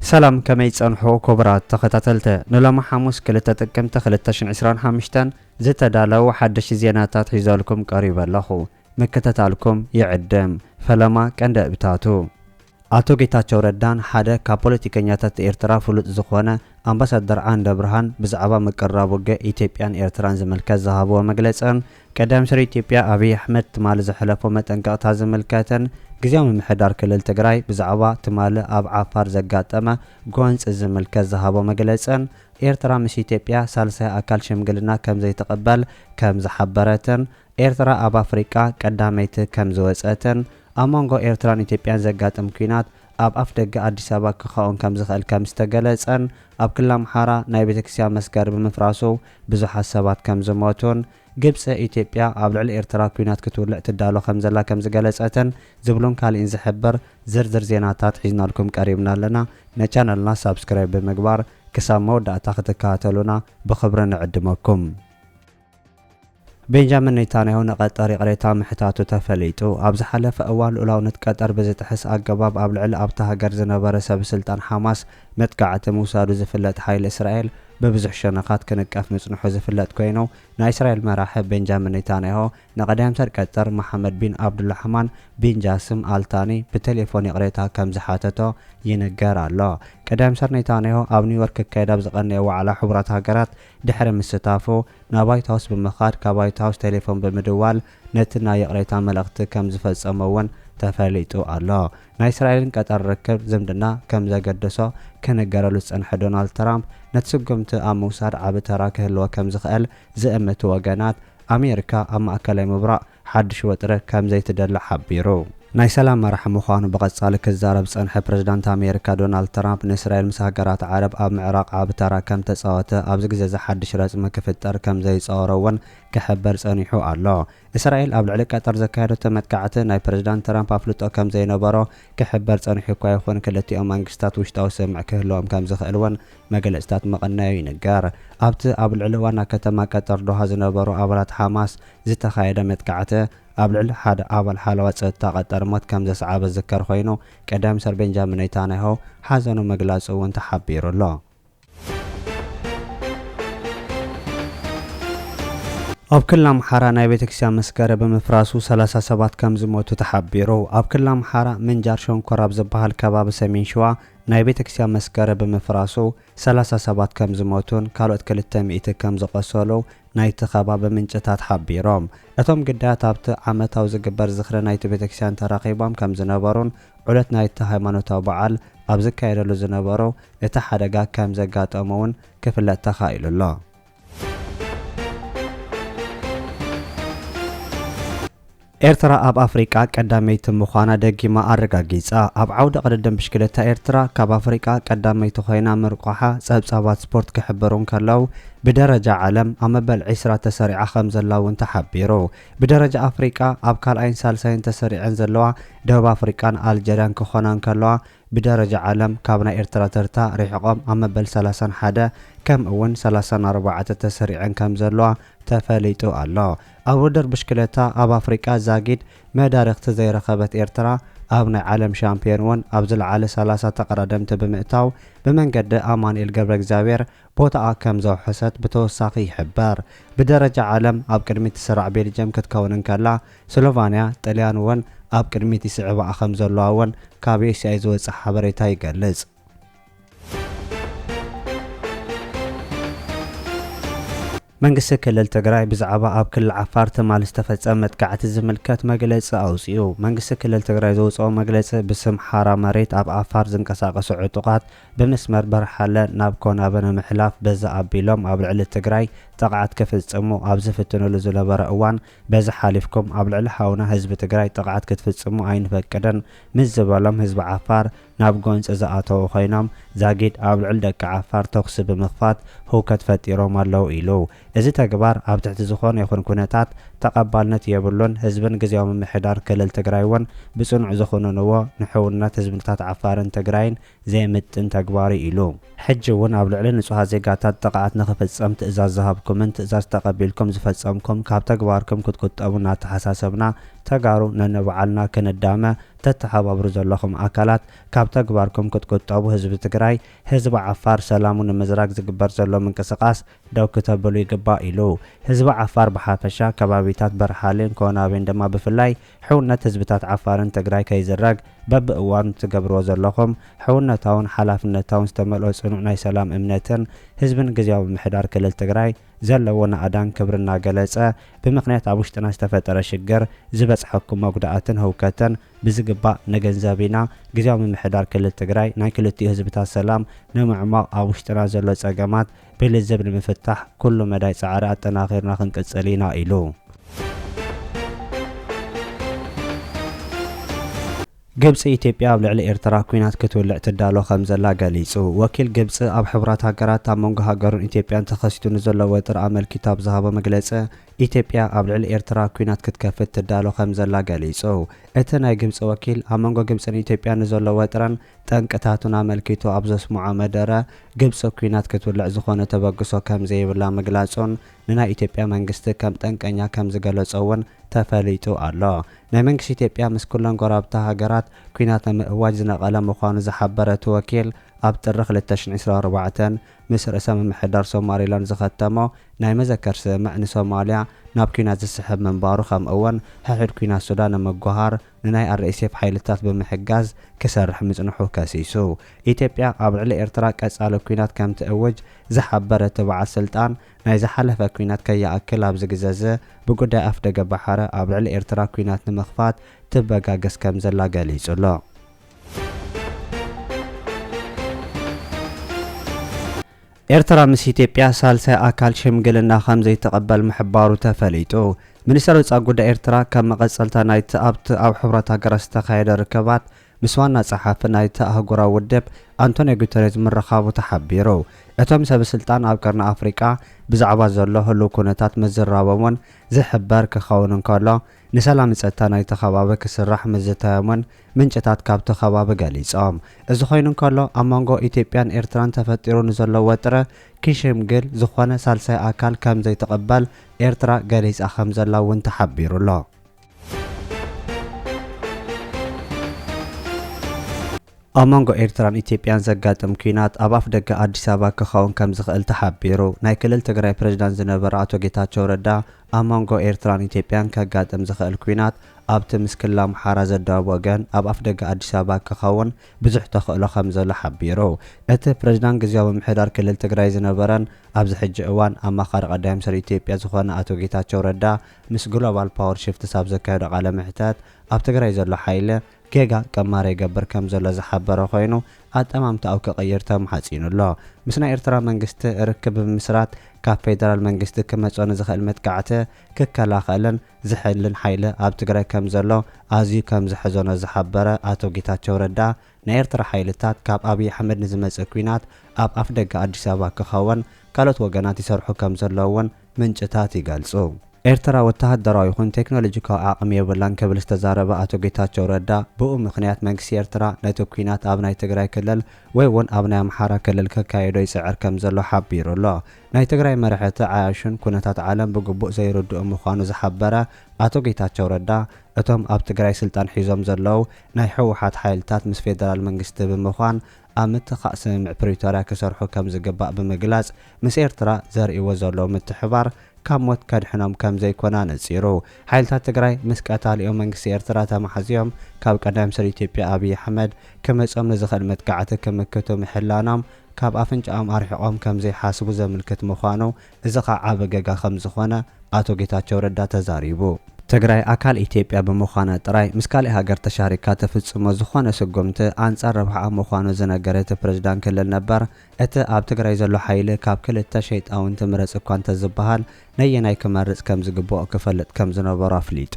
ሰላም ከመይ ጸንሑ ኩቡራት ተኸታተልቲ ንሎሚ ሓሙስ ክልተ ጥቅምቲ ክልተ ሽሕን ዕስራን ሓምሽተን ዝተዳለው ሓደሽቲ ዜናታት ሒዘልኩም ቀሪበ ኣለኹ ምክትታልኩም ይዕድም ፈለማ ቀንዲ እብታቱ ኣቶ ጌታቸው ረዳን ሓደ ካብ ፖለቲከኛታት ኤርትራ ፍሉጥ ዝኾነ ኣምባሳደር ዓንደብርሃን ብዛዕባ ምቅርራብ ውግእ ኢትዮጵያን ኤርትራን ዝምልከት ዝሃብዎ መግለጽን ቀዳማይ ሚኒስተር ኢትዮጵያ ኣብይ ኣሕመድ ትማሊ ዘሕለፎ መጠንቀቕታ ዝምልከትን ግዝያዊ ምምሕዳር ክልል ትግራይ ብዛዕባ ትማሊ ኣብ ዓፋር ዘጋጠመ ጎንጺ ዝምልከት ዝሃቦ መግለጽን ኤርትራ ምስ ኢትዮጵያ ሳልሳይ ኣካል ሽምግልና ከምዘይትቕበል ከምዝሓበረትን ኤርትራ ኣብ ኣፍሪቃ ቀዳመይቲ ከም ዝወጸትን ኣብ መንጎ ኤርትራን ኢትዮጵያን ዘጋጥም ኲናት ኣብ ኣፍደገ ኣዲስ ኣበባ ክኻውን ከም ዝኽእል ከም ዝተገለጸን ኣብ ክልል ኣምሓራ ናይ ቤተክርስቲያን መስገሪ ብምፍራሱ ብዙሓት ሰባት ከም ዝሞቱን ግብጺ ኢትዮጵያ ኣብ ልዕሊ ኤርትራ ኲናት ክትውልዕ ትዳሎ ከም ዘላ ከም ዝገለጸትን ዝብሉን ካሊእን ዝሕብር ዝርዝር ዜናታት ሒዝናልኩም ቀሪብና ኣለና ነቻነልና ሳብስክራይብ ብምግባር ክሳብ መወዳእታ ክትከታተሉና ብኽብሪ ንዕድመኩም። ቤንጃሚን ኔታንያሁ ንቀጠር ይቕሬታ ምሕታቱ ተፈሊጡ። ኣብ ዝሓለፈ እዋን ልኡላውነት ቀጠር ብዝጥሕስ ኣገባብ ኣብ ልዕሊ ኣብታ ሃገር ዝነበረ ሰብስልጣን ሓማስ መጥቃዕቲ ምውሳዱ ዝፍለጥ ሓይሊ እስራኤል ብብዙሕ ሸነኻት ክንቀፍ ምጽንሑ ዝፍለጥ ኮይኑ ናይ እስራኤል መራሒ ቤንጃሚን ኔታንያሁ ንቀዳምተር ቀጠር መሓመድ ቢን ዓብዱላሕማን ቢን ጃስም ኣል ታኒ ብቴሌፎን ይቕሬታ ከምዝሓተቶ ይንገር ኣሎ። ቀዳምተር ኔታንያሁ ኣብ ኒውዮርክ ክካየድ ኣብ ዝቐነየ ዋዕላ ሕቡራት ሃገራት ድሕሪ ምስታፉ፣ ናብ ዋይት ሃውስ ብምኻድ ካብ ዋይት ሃውስ ቴሌፎን ብምድዋል ነቲ ናይ ይቕሬታ መልእኽቲ ከም ዝፈጸሞ'ውን ተፈሊጡ ኣሎ። ናይ እስራኤልን ቀጠር ርክብ፣ ዝምድና፣ ከም ዘገደሶ ክንገረሉ ዝጸንሐ ዶናልድ ትራምፕ፣ ነቲ ስጕምቲ ኣብ ምውሳድ ዓቢ ተራ ክህልዎ ከም ዝኽእል ዝእምቱ ወገናት፣ ኣሜሪካ ኣብ ማእከላይ ምብራቕ ሓድሽ ወጥሪ ከም ዘይትደሊ ሓቢሩ። ናይ ሰላም መራሒ ምዃኑ ብቐጻሊ ክዛረብ ዝጸንሐ ፕረዚዳንት ኣሜሪካ ዶናልድ ትራምፕ፣ ንእስራኤል ምስ ሃገራት ዓረብ ኣብ ምዕራቕ ዓቢ ተራ ከም ተጻወተ ኣብዚ ግዜ'ዚ ሓድሽ ረጽሚ ክፍጠር ከም ዘይጸወሮ'ውን ክሕበር ጸኒሑ ኣሎ። እስራኤል ኣብ ልዕሊ ቀጠር ዘካየደቶ መጥቃዕቲ ናይ ፕረዚዳንት ትራምፕ ኣፍልጦ ከም ዘይነበሮ ክሕበር ጸኒሑ'ኳ ይኹን፣ ክልቲኦም መንግስታት ውሽጣዊ ስምምዕ ክህልዎም ከም ዝኽእል'ውን መግለጺታት ምቕናዩ ይንገር። ኣብቲ ኣብ ልዕሊ ዋና ከተማ ቀጠር ዶሃ ዝነበሩ ኣባላት ሓማስ፣ ዝተኻየደ መጥቃዕቲ ኣብ ልዕሊ ሓደ ኣባል ሓለዋ ጸጥታ ቀጠር ሞት ከም ዘስዓበ ዝዝከር ኮይኑ፣ ቀዳም ሚኒስተር ቤንጃሚን ኔታንያሁ ሓዘኑ ምግላጹ'ውን ተሓቢሩ ኣሎ። ኣብ ክልል ኣምሓራ ናይ ቤተክርስትያን መስገረ ብምፍራሱ ሰላሳ ሰባት ከም ዝሞቱ ተሓቢሩ። ኣብ ክልል ኣምሓራ ምንጃር ሸንኮራ ኣብ ዝበሃል ከባቢ ሰሜን ሽዋ ናይ ቤተክርስትያን መስገረ ብምፍራሱ ሰላሳ ሰባት ከምዝሞቱን ካልኦት ክልተ ሚእቲ ከምዝቖሰሉ ናይቲ ከባቢ ምንጭታት ሓቢሮም። እቶም ግዳያት ኣብቲ ዓመታዊ ዝግበር ዝኽሪ ናይቲ ቤተክርስቲያን ተረኺቦም ከምዝነበሩን ዑደት ናይቲ ሃይማኖታዊ በዓል ኣብ ዝካየደሉ ዝነበሩ እቲ ሓደጋ ከምዘጋጠሞ'ውን ክፍለጥ ተኻኢሉ'ሎ። ኤርትራ ኣብ ኣፍሪቃ ቀዳመይቲ ምዃና ደጊማ ኣረጋጊጻ። ኣብ ዓውደ ቅድድም ብሽክለታ ኤርትራ ካብ ኣፍሪቃ ቀዳመይቲ ኮይና ምርቋሓ ጸብጻባት ስፖርት ክሕበሩ እንከለው ብደረጃ ዓለም ኣብ መበል 20 ተሰሪዓ ከም ዘላ እውን ተሓቢሩ። ብደረጃ ኣፍሪቃ ኣብ ካልኣይን ሳልሳይን ተሰሪዐን ዘለዋ ደቡብ ኣፍሪቃን ኣልጀርያን ክኾና እንከለዋ ብደረጃ ዓለም ካብ ናይ ኤርትራ ተርታ ሪሕቆም ኣብ መበል ሰላሳን ሓደ ከምኡ ውን ሰላሳን ኣርባዕተ ተሰሪዐን ከም ዘለዋ ተፈሊጡ ኣሎ። ኣብ ውድድር ብሽክለታ ኣብ ኣፍሪቃ ዛጊድ መዳርግቲ ዘይረኸበት ኤርትራ ኣብ ናይ ዓለም ሻምፕዮን ውን ኣብ ዝለዓለ ሰላሳ ተቐዳደምቲ ብምእታው ብመንገዲ ኣማኑኤል ገብረእግዚኣብሄር ቦታኣ ከም ዘውሐሰት ብተወሳኺ ይሕበር። ብደረጃ ዓለም ኣብ ቅድሚት ትስራዕ ቤልጅየም ክትከውን እንከላ፣ ስሎቫንያ፣ ጥልያን እውን ኣብ ቅድሚት ይስዕባኣ ከም ዘለዋ እውን ካብ ACI ዝወጽእ ሓበሬታ ይገልጽ። መንግስቲ ክልል ትግራይ ብዛዕባ ኣብ ክልል ዓፋር ትማሊ ዝተፈጸመ መጥቃዕቲ ዝምልከት መግለጺ ኣውጺኡ። መንግስቲ ክልል ትግራይ ዘውጽኦ መግለጺ ብስም ሓራ መሬት ኣብ ዓፋር ዝንቀሳቐሱ ዕጡቓት ብመስመር በርሃለ ናብ ኮናበ ንምሕላፍ በዚ ኣቢሎም ኣብ ልዕሊ ትግራይ ጥቕዓት ክፍፅሙ ኣብ ዝፍትንሉ ዝነበረ እዋን በዚ ሓሊፍኩም ኣብ ልዕሊ ሓውና ህዝቢ ትግራይ ጥቕዓት ክትፍፅሙ ኣይንፈቅድን ምስ ዝበሎም ህዝቢ ዓፋር ናብ ጎንፂ ዝኣተዉ ኮይኖም ዛጊድ ኣብ ልዕሊ ደቂ ዓፋር ተኹሲ ብምኽፋት ህውከት ፈጢሮም ኣለዉ ኢሉ። እዚ ተግባር ኣብ ትሕቲ ዝኾነ ይኹን ኩነታት ተቐባልነት የብሉን፣ ህዝብን ግዝያዊ ምምሕዳር ክልል ትግራይ እውን ብፅኑዕ ዝኹንንዎ ንሕውነት ህዝብታት ዓፋርን ትግራይን ዘይምጥን ተግባር'ዩ ኢሉ። ሕጂ'ውን ኣብ ልዕሊ ንጹሃት ዜጋታት ጥቕዓት ንኽፍጸም ትእዛዝ ዝሃብኩምን ትእዛዝ ተቐቢልኩም ዝፈጸምኩም ካብ ተግባርኩም ክትቁጠቡ እናተሓሳሰብና ተጋሩ ነንባዕልና ክንዳመ ተተሓባብሩ ዘለኹም ኣካላት ካብ ተግባርኩም ክትቁጠቡ ህዝቢ ትግራይ ህዝቢ ዓፋር ሰላሙ ንምዝራግ ዝግበር ዘሎ ምንቅስቓስ ደው ክተብሉ ይግባእ ኢሉ። ህዝቢ ዓፋር ብሓፈሻ፣ ከባቢታት በርሃሌን ኮናቤን ድማ ብፍላይ ሕውነት ህዝብታት ዓፋርን ትግራይ ከይዝረግ በብእዋኑ እትገብርዎ ዘለኹም ሕውነታውን ሓላፍነታውን ዝተመልኦ ፅኑዕ ናይ ሰላም እምነትን ህዝብን ግዝያዊ ምምሕዳር ክልል ትግራይ ዘለዎ ናእዳን ክብርን እናገለፀ ብምኽንያት ኣብ ውሽጥና ዝተፈጠረ ሽግር ዝበፅሐኩም መጉዳእትን ህውከትን ብዝግባእ ንግንዘብ ኢና። ግዝያዊ ምምሕዳር ክልል ትግራይ ናይ ክልቲኡ ህዝብታት ሰላም ንምዕሟቕ ኣብ ውሽጥና ዘሎ ፀገማት ብልዝብ ንምፍታሕ ኩሉ መዳይ ፃዕሪ ኣጠናኺርና ክንቅፅል ኢና ኢሉ። ግብፂ ኢትዮጵያ ኣብ ልዕሊ ኤርትራ ኲናት ክትውልዕ ትዳሎ ከምዘላ ገሊፁ። ወኪል ግብፂ ኣብ ሕቡራት ሃገራት ኣብ መንጎ ሃገሩን ኢትዮጵያን ተኸሲቱ ንዘሎ ወጥሪ ኣመልኪቱ ኣብ ዝሃቦ መግለፂ ኢትዮጵያ ኣብ ልዕሊ ኤርትራ ኲናት ክትከፍት ትዳሎ ከምዘላ ገሊፁ። እቲ ናይ ግብፂ ወኪል ኣብ መንጎ ግብፅን ኢትዮጵያን ንዘሎ ወጥረን ጠንቅታቱን ኣመልኪቱ ኣብ ዘስምዖ መደረ፣ ግብጺ ኲናት ክትውልዕ ዝኾነ ተበግሶ ከምዘይብላ ምግላጹን ንናይ ኢትዮጵያ መንግስቲ ከም ጠንቀኛ ከምዝገለጾ እውን ተፈሊጡ ኣሎ። ናይ መንግስቲ ኢትዮጵያ ምስ ኩለን ጎረባብቲ ሃገራት ኲናት ንምእዋጅ ዝነቐለ ምዃኑ ዝሓበረ እቲ ወኪል፣ ኣብ ጥሪ ክልተ ሽሕ ዕስራን ኣርባዕተን ምስ ርእሰ ምምሕዳር ሶማሊላንድ ዝኸተሞ ናይ መዘከር ስምምዕ ንሶማልያ ናብ ኲናት ዝስሕብ ምንባሩ ከምኡ'ውን ሕሑድ ኲናት ሱዳን ንምጉሃር ንናይ RSF ሓይልታት ብምሕጋዝ ክሰርሕ ምጽንሑ ከሲሱ። ኢትዮጵያ ኣብ ልዕሊ ኤርትራ ቀጻሊ ኲናት ከም ትእውጅ ዝሓበረ እቲ በዓል ስልጣን፣ ናይ ዝሓለፈ ኲናት ከይኣክል ኣብዚ ግዘ'ዚ ብጉዳይ ኣፍደገ ባሕረ ኣብ ልዕሊ ኤርትራ ኲናት ንምኽፋት ትበጋገስ ከም ዘላ ገሊጹ'ሎ። ኤርትራ ምስ ኢትዮጵያ ሳልሳይ ኣካል ሽምግልና ከምዘይትቕበል ምሕባሩ ተፈሊጡ። ሚኒስተር ወጻኢ ጉዳይ ኤርትራ ከም መቐጸልታ ናይቲ ኣብቲ ኣብ ሕቡራት ሃገራት ዝተኻየደ ርክባት ምስ ዋና ጸሓፊ ናይቲ ኣህጉራዊ ውድብ ኣንቶንዮ ጉተሬዝ ምርኻቡ ተሓቢሩ። እቶም ሰበስልጣን ኣብ ቀርኒ ኣፍሪቃ ብዛዕባ ዘሎ ህሉው ኩነታት ምዝራቦም'ውን ዝሕበር ክኸውን እንከሎ፣ ንሰላም ፀጥታ ናይቲ ከባቢ ክስራሕ ምዝታዮም'ውን ምንጭታት ካብቲ ከባቢ ገሊፆም። እዚ ኮይኑ እንከሎ ኣብ መንጎ ኢትዮጵያን ኤርትራን ተፈጢሩ ንዘሎ ወጥሪ ክሽምግል ዝኾነ ሳልሳይ ኣካል ከምዘይትቕበል ኤርትራ ገሊፃ ከምዘላ እውን ተሓቢሩ'ሎ። ኣብ መንጎ ኤርትራን ኢትዮጵያን ዘጋጥም ኲናት ኣብ ኣፍደገ ኣዲስ ኣበባ ክኸውን ከምዝኽእል ተሓቢሩ። ናይ ክልል ትግራይ ፕሬዝዳንት ዝነበሩ ኣቶ ጌታቸው ረዳ ኣብ መንጎ ኤርትራን ኢትዮጵያን ከጋጥም ዝኽእል ኲናት ኣብቲ ምስ ክልል ኣምሓራ ዘዳውብ ወገን ኣብ ኣፍደገ ኣዲስ ኣበባ ክኸውን ብዙሕ ተኽእሎ ከምዘሎ ሓቢሩ። እቲ ፕሬዝዳንት ግዝያዊ ምምሕዳር ክልል ትግራይ ዝነበረን ኣብዚ ሕጂ እዋን ኣማኻሪ ቀዳማይ ሚኒስትር ኢትዮጵያ ዝኾነ ኣቶ ጌታቸው ረዳ ምስ ግሎባል ፓወር ሽፍትስ ኣብ ዘካየዶ ቃለ መሕተት ኣብ ትግራይ ዘሎ ሓይሊ ጌጋ ቀማር ይገብር ከም ዘሎ ዝሓበረ ኮይኑ ኣጠማምታኡ ክቕይር ተማሕጺኑ ኣሎ። ምስ ናይ ኤርትራ መንግስቲ ርክብ ብምምስራት ካብ ፌደራል መንግስቲ ክመጾ ንዝኽእል መጥቃዕቲ ክከላኸልን ዝሕልን ሓይሊ ኣብ ትግራይ ከም ዘሎ ኣዝዩ ከም ዘሕዘኖ ዝሓበረ ኣቶ ጌታቸው ረዳ ናይ ኤርትራ ሓይልታት ካብ ኣብይ ኣሕመድ ንዝመጽእ ኲናት ኣብ ኣፍደገ ኣዲስ ኣበባ ክኸውን ካልኦት ወገናት ይሰርሑ ከም ዘለዉ እውን ምንጭታት ይገልጹ። ኤርትራ ወተሃደራዊ ይኹን ቴክኖሎጂካዊ ዓቕሚ የብላን ክብል ዝተዛረበ ኣቶ ጌታቸው ረዳ ብኡ ምኽንያት መንግስቲ ኤርትራ ነቲ ኲናት ኣብ ናይ ትግራይ ክልል ወይ እውን ኣብ ናይ ኣምሓራ ክልል ከካይዶ ይጽዕር ከምዘሎ ሓቢሩ ኣሎ። ናይ ትግራይ መራሕቲ ዓያሹን ኩነታት ዓለም ብግቡእ ዘይርድኡ ምዃኑ ዝሓበረ ኣቶ ጌታቸው ረዳ እቶም ኣብ ትግራይ ስልጣን ሒዞም ዘለዉ ናይ ህወሓት ሓይልታት ምስ ፌደራል መንግስቲ ብምዃን ኣብ ምትካእ ስምምዕ ፕሪቶርያ ክሰርሑ ከም ዝግባእ ብምግላጽ፣ ምስ ኤርትራ ዘርእይዎ ዘለዉ ምትሕብባር ካብ ሞት ከድሕኖም ከም ዘይኮነ ኣነጺሩ። ሓይልታት ትግራይ ምስ ቀታሊኦም መንግስቲ ኤርትራ ተማሕዚዮም ካብ ቀዳማይ ሚኒስተር ኢትዮጵያ ኣብይ ኣሕመድ ክመጾም ንዝኽእል መጥቃዕቲ ክምክቱ ምሕላኖም ካብ ኣፍንጫኦም ኣርሒቖም ከም ዘይሓስቡ ዘምልክት ምዃኑ እዚ ከኣ ዓቢ ገጋ ከም ዝኾነ ኣቶ ጌታቸው ረዳ ተዛሪቡ። ትግራይ ኣካል ኢትዮጵያ ብምዃና ጥራይ ምስ ካሊእ ሃገር ተሻሪካ ትፍጽሞ ዝኾነ ስጉምቲ ኣንጻር ረብሓኣ ምዃኑ ዝነገረ እቲ ፕሬዝዳንት ክልል ነበር እቲ ኣብ ትግራይ ዘሎ ሓይሊ ካብ ክልተ ሸይጣውንቲ ምረጽ እኳ እንተዝበሃል ነየናይ ክመርጽ ከምዝግበኦ ክፈልጥ ከምዝነበሮ ኣፍሊጡ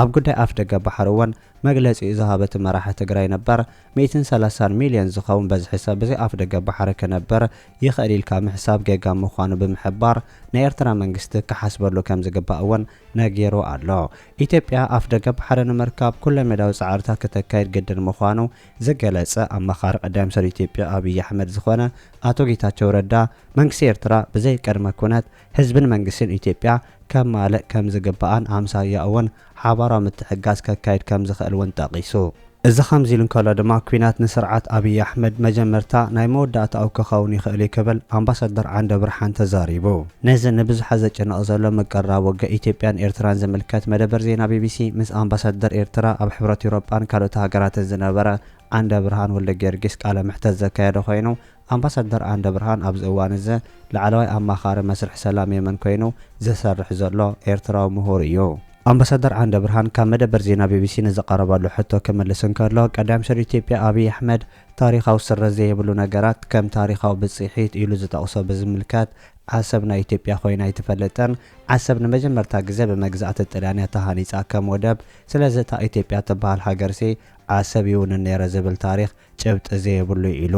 ኣብ ጉዳይ ኣፍደገ ባሕሪ እውን መግለጺኡ ዝሃበ እቲ መራሒ ትግራይ ነበር ሚእትን ሰላሳን ሚልዮን ዝኸውን በዝሒ ሰብ ብዘይ ኣፍደገ ባሕሪ ክነብር ይኽእል ኢልካ ምሕሳብ ጌጋ ምዃኑ ብምሕባር፣ ናይ ኤርትራ መንግስቲ ክሓስበሉ ከምዝግባእ እውን ነጊሩ ኣሎ። ኢትዮጵያ ኣፍደገ ባሕሪ ንምርካብ ኩለሜዳዊ ጻዕርታት ክተካይድ ግድን ምዃኑ ዝገለጸ ኣማኻሪ ቀዳማይ ሚኒስተር ኢትዮጵያ ኣብይ ኣሕመድ ዝኾነ ኣቶ ጌታቸው ረዳ፣ መንግስቲ ኤርትራ ብዘይ ቅድመ ኩነት ህዝብን መንግስትን ኢትዮጵያ ከማልእ ከምዝግባእን ኣምሳያኡ'ውን ሓባራዊ ምትሕግጋዝ ከካይድ ከም ዝኽእል እውን ጠቒሱ። እዚ ከምዚ ኢሉ እንከሎ ድማ ኲናት ንስርዓት ኣብይ ኣሕመድ መጀመርታ ናይ መወዳእታኡ ክኸውን ይኽእል እዩ ክብል ኣምባሳደር ዓንደብርሃን ተዛሪቡ። ነዚ ንብዙሓት ዘጨንቕ ዘሎ ምቅርራብ ወግእ ኢትዮጵያን ኤርትራን ዝምልከት መደበር ዜና ቢቢሲ ምስ ኣምባሳደር ኤርትራ ኣብ ሕብረት ኤውሮጳን ካልኦት ሃገራትን ዝነበረ ዓንደብርሃን ወልደጊዮርጊስ ቃለ መሕተት ዘካየደ ኮይኑ፣ ኣምባሳደር ዓንደብርሃን ኣብዚ እዋን'ዚ ላዕለዋይ ኣማኻሪ መስርሕ ሰላም የመን ኮይኑ ዝሰርሕ ዘሎ ኤርትራዊ ምሁር እዩ። ኣምባሳደር ዓንደብርሃን ካብ መደበር ዜና ቢቢሲ ንዝቐረበሉ ሕቶ ክምልስ እንከሎ፣ ቀዳም ሚኒስተር ኢትዮጵያ ኣብይ ኣሕመድ ታሪኻዊ ስረት ዘይብሉ ነገራት ከም ታሪኻዊ ብጽሒት ኢሉ ዝጠቕሶ ብዝምልከት ዓሰብ ናይ ኢትዮጵያ ኮይና ኣይትፈልጥን፣ ዓሰብ ንመጀመርታ ግዜ ብመግዛእቲ ጥልያን'ያ ተሃኒጻ ከም ወደብ፣ ስለዚ እታ ኢትዮጵያ ትበሃል ሃገርሲ ዓሰብ ይውንን ነይረ ዝብል ታሪኽ ጭብጢ ዘየብሉ እዩ ኢሉ።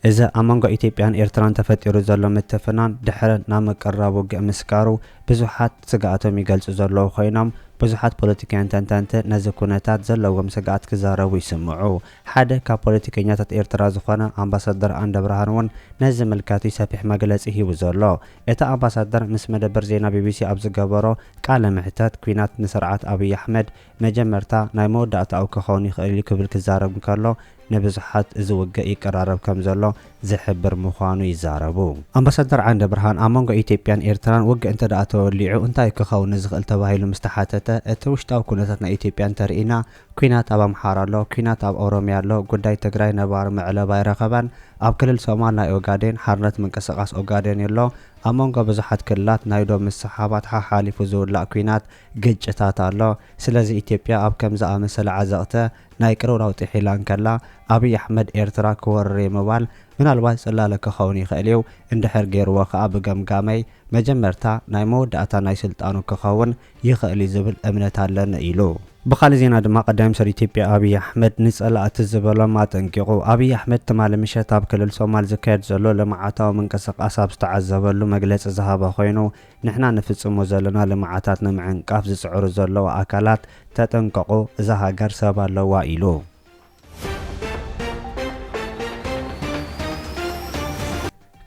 እዚ ኣብ መንጎ ኢትዮጵያን ኤርትራን ተፈጢሩ ዘሎ ምትፍናን ድሕሪ ናብ ምቅርራብ ውግእ ምስጋሩ ብዙሓት ስግኣቶም ይገልጹ ዘለዉ ኮይኖም፣ ብዙሓት ፖለቲካውያን ተንተንቲ ነዚ ኩነታት ዘለዎም ስግኣት ክዛረቡ ይስምዑ። ሓደ ካብ ፖለቲከኛታት ኤርትራ ዝኾነ ኣምባሳደር ኣንደብርሃን'ውን ነዚ ዝምልከት'ዩ ሰፊሕ መግለጺ ሂቡ ዘሎ። እቲ ኣምባሳደር ምስ መደበር ዜና ቢቢሲ ኣብ ዝገበሮ ቃለ መሕተት፣ ኲናት ንስርዓት ኣብይ ኣሕመድ መጀመርታ ናይ መወዳእታኡ ክኸውን ይኽእል እዩ ክብል ክዛረብ እንከሎ፣ ንብዙሓት እዚ ውግእ ይቀራረብ ከም ዘሎ ዝሕብር ምዃኑ ይዛረቡ። ኣምባሳደር ዓንደብርሃን፣ ኣብ መንጎ ኢትዮጵያን ኤርትራን ውግእ እንተድኣ ተወሊዑ እንታይ እዩ ክኸውን ንዝኽእል ተባሂሉ ምስ ተሓተተ፣ እቲ ውሽጣዊ ኩነታት ናይ ኢትዮጵያ እንተርኢና፣ ኲናት ኣብ ኣምሓራ ኣሎ፣ ኲናት ኣብ ኦሮምያ ኣሎ፣ ጉዳይ ትግራይ ነባሪ መዕለቢ ኣይረኸበን፣ ኣብ ክልል ሶማል ናይ ኦጋዴን ሓርነት ምንቅስቓስ ኦጋዴን'ሎ፣ ኣብ መንጎ ብዙሓት ክልላት ናይ ዶብ ምስሕሓባት ሓሓሊፉ ዝውላዕ ኲናት ግጭታት ኣሎ። ስለዚ ኢትዮጵያ ኣብ ከም ዝኣመሰለ ዓዘቕተ ናይ ቅርውራው ጢሒላ እንከላ፣ ኣብይ ኣሕመድ ኤርትራ ክወርር'የ ምባል ምናልባት ጽላለ ክኸውን ይኽእል'ዩ፣ እንድሕር ገይርዎ ከኣ ብገምጋመይ መጀመርታ ናይ መወዳእታ ናይ ስልጣኑ ክኸውን ይኽእል'ዩ ዝብል እምነት ኣለኒ ኢሉ። ብኻልእ ዜና ድማ ቀዳማይ ሚኒስተር ኢትዮጵያ ኣብይ ኣሕመድ ንጸላእቲ ዝበሎም ኣጠንቂቑ። ኣብይ ኣሕመድ ትማሊ ምሸት ኣብ ክልል ሶማል ዝካየድ ዘሎ ልምዓታዊ ምንቅስቓስ ኣብ ዝተዓዘበሉ መግለጺ ዝሃበ ኮይኑ፣ ንሕና ንፍጽሞ ዘሎና ልምዓታት ንምዕንቃፍ ዝጽዕሩ ዘለዉ ኣካላት ተጠንቀቑ፣ እዛ ሃገር ሰብ ኣለዋ ኢሉ።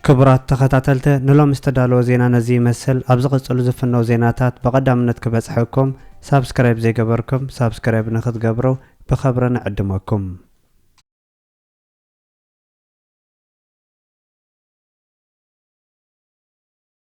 ክቡራት ተኸታተልተ ንሎሚ ዝተዳለወ ዜና ነዚ ይመስል፣ ኣብ ዝቕጽሉ ዝፍነው ዜናታት ብቐዳምነት ክበጽሐኩም ሳብስክራይብ ዘይገበርኩም ሳብስክራይብ ንክትገብሩ ብኸብሪ ንዕድመኩም።